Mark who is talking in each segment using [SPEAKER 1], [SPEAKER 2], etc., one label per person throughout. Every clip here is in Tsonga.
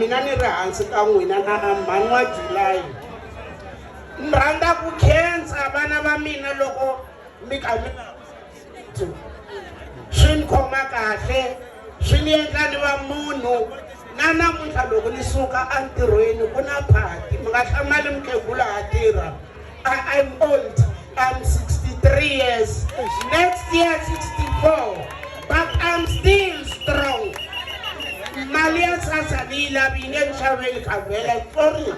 [SPEAKER 1] Mina ni ri hansi ka n'wina na a mhani wa July. Ni rhandza ku khensa vana va mina loko mi kha mi swi ni khoma kahle swi ni endla ni va munhu na namuntlha loko ni suka entirhweni ku na phati mi nga hlamali mukhegula ha tirha I am old. I'm 63 years. Next year 64. But I'm still strong. Mali ya sasa ni la bine nxaveli kavela sorry.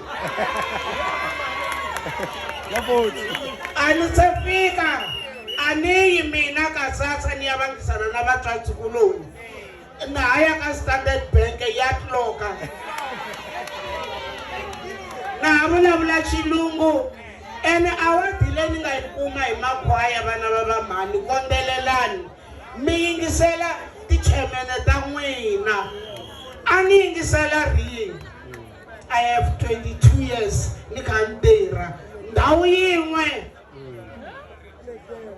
[SPEAKER 1] Ani se fika. Ani yi mina ka sasa ni ya vangisana na vatswatsi kuloni. Na ha ya ka Standard Bank ya tloka na ha vulavula xilungu ene awadi leyi ni nga yi kuma hi makhwaya vana va vamhani kondzelelani mi yingisela tichemene ta n'wina a ni yingisela rini i have 22 years ni kha ni tirha ndhawu yin'we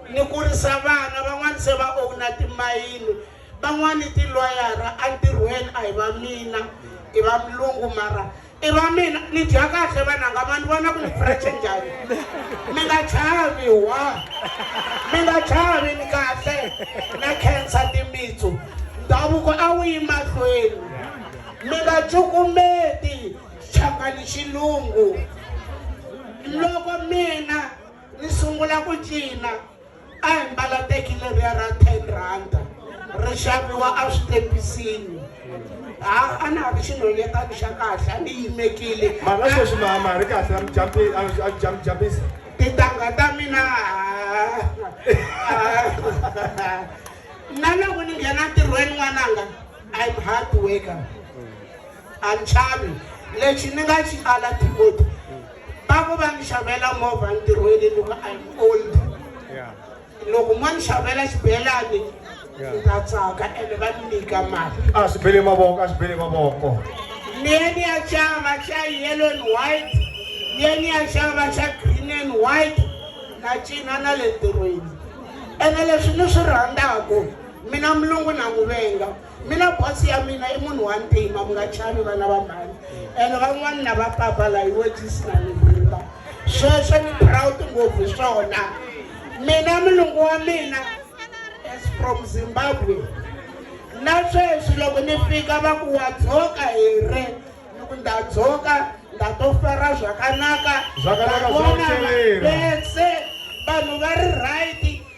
[SPEAKER 1] ni kurisa vana van'wani se va owna timayini van'wani tilwayara entirhweni a hi va mina i va mulungu mara i va mina ni dya kahle vananga ma ni vona ku ni freche njhani mi nga chavi wa mi nga chavi ni kahle na khensa timitsu ndhavuko a wu yi mahlweni mi nga cukumeti Changani xilungu. Loko mina ni sungula ku cina a hi mbala teki leriya ra ten rhanda ri xaviwa eswitepisini ha a na ha ri xinhonyetani xa kahle a ni yimekile mara sweswi mama
[SPEAKER 2] ri kahle amjambisa tintangha ta
[SPEAKER 1] mina na loko ni nghena ntirhweni n'wananga i'm hard worker A ni xavi. Lexi ni nga xi ala Timothy, va ku va ni xavela movha ntirhweni ni ku I'm old. Loko mo ni xavela xibelani ni ta tsaka ene va ni nyika mali. A swi bele mavoko,
[SPEAKER 2] a swi bele mavoko. Ni ye
[SPEAKER 1] ni ya xava xa yellow and white, ni ye ni ya xava xa green and white, na cina na le ntirhweni. Ene leswi ni swi rhandzaku, mina mulungu na n'wi venga. mina bosi ya mina i munhu wa ntima mi nga chavi vana va mhani ene van'wani na va papa la hi wejisi na mihimba sweswo ni proud ngopfu swona mina mulungu wa mina as from zimbabwe na sweswi loko ni fika va ku wa dzoka hi re ni ku nda dzoka nda to fara zvakanaka vanhu va ri right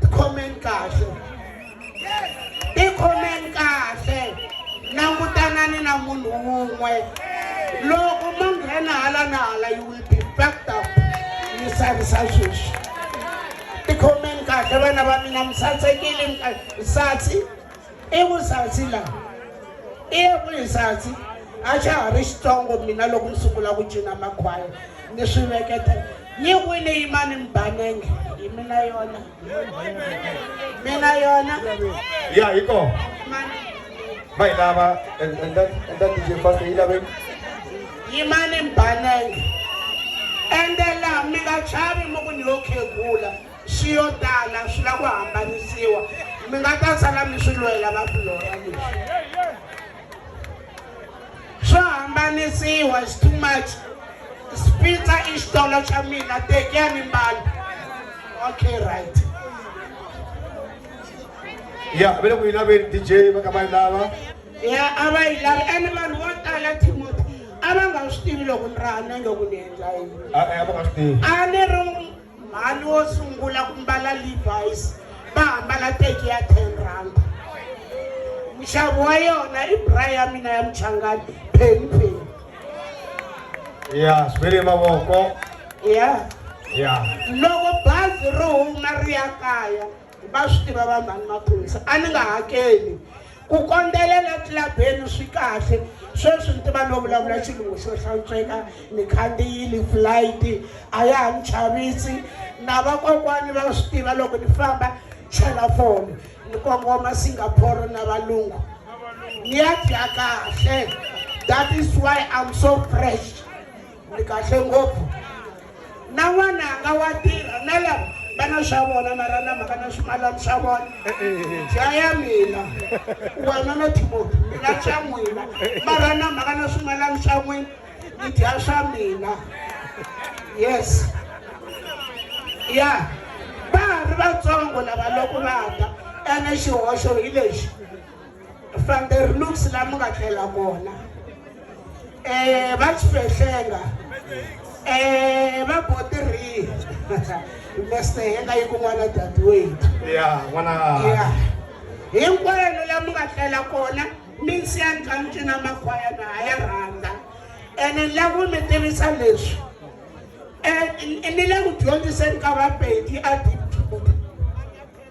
[SPEAKER 1] tikhomeni kahle tikhomeni kahle langutanani na munhu wun'we loko mo nghena hala na hala you will be backed up mi savisa sweswi tikhomeni kahle vana va mina mi satsekile mi satsi i vusatsi la i vuhisatsi a xa ha ri xitsongo mina loko ni sungula ku cina makhwaya ni swi veketa yi wini yimani mbanenge hi mina yona mina yona ya hi ko
[SPEAKER 2] ma yi lava enda dj fast yi lave yimani
[SPEAKER 1] mbanenge ende laha mi nga chavi mi ku ni yo khegula swi yo tala swi lava ku hambanisiwa mi nga ta sala mi swi lwela va fulora leswi swo hambanisiwa is too much spitsa i xitolo xa mina tekiyani mbala okay right
[SPEAKER 2] ya vele ku yi laveni dj va ka va yi lava ya a va
[SPEAKER 1] yi lavi ene vanhu vo tala timoti a va nga swi tivi loko ni raha nenge ku ni endla yini a va nga swi tivi a
[SPEAKER 2] ni ri
[SPEAKER 1] mhani wo sungula ku mbala levis va hambala teki ya ten rand nxavo wa yona i bra ya mina ya muchangani pheni pheni
[SPEAKER 2] ya swivele mavoko ya
[SPEAKER 1] ya
[SPEAKER 2] loko
[SPEAKER 1] bazi ro huma ri ya kaya Va swi tiva va mhani maphorisa a ni nga hakeli ku kondzelela tlilabeni swi kahle sweswi ni tiva no vulavula xilungu xo hlantsweka ni khandziyile flight a ya ha ni chavisi na vakokwani va swi tiva loko ni famba chela foni ni kongoma singapore na valungu ni ya dya kahle that is why i'm so fresh ni kahle ngopfu na n'wananga wa tirha na lava va na swa vona mara na mhaka na swimalani swa vona jaya mina wena no timoti mina swa n'wina mara na mhaka na swimalani swa n'wina ni dya swa mina yes ya va ha ri vatsongo lava loko va ta ene xihoxo hi lexi Van der Lux la mi nga tlela kona um va chifehlenga um va botirhi mester henga yi kun'wana dadi wethu
[SPEAKER 2] ya
[SPEAKER 1] hinkwenu la mi nga tlela kona mi nsiya ntlanci na makhwaya na ha ya rhandza ene la ku mi tivisa leswi um ni le ku dyondziseni ka vapedi a dip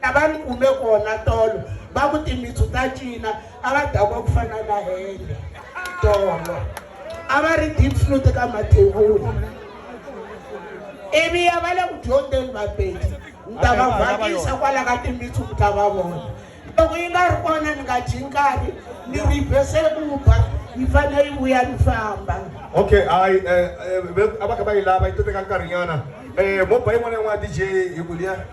[SPEAKER 1] La va ni kume kona tolo va ku timitsu ta cina a va dakwa ku fana na hende tolo a va ri deep flute ka mathevula ivi ya va le ku dyondzeni vapedi ni ta va vhakisa kwala ka timitsu mi ta va vona loko yi nga ri kona ni nga dyi nkarhi ni rivhese ku ba yi fanele yi vuya ni famba okay hayi
[SPEAKER 2] um a va kha va yi lava yi to teka nkarhinyana um mo ba yin'wana yin'wana dj hi ku liya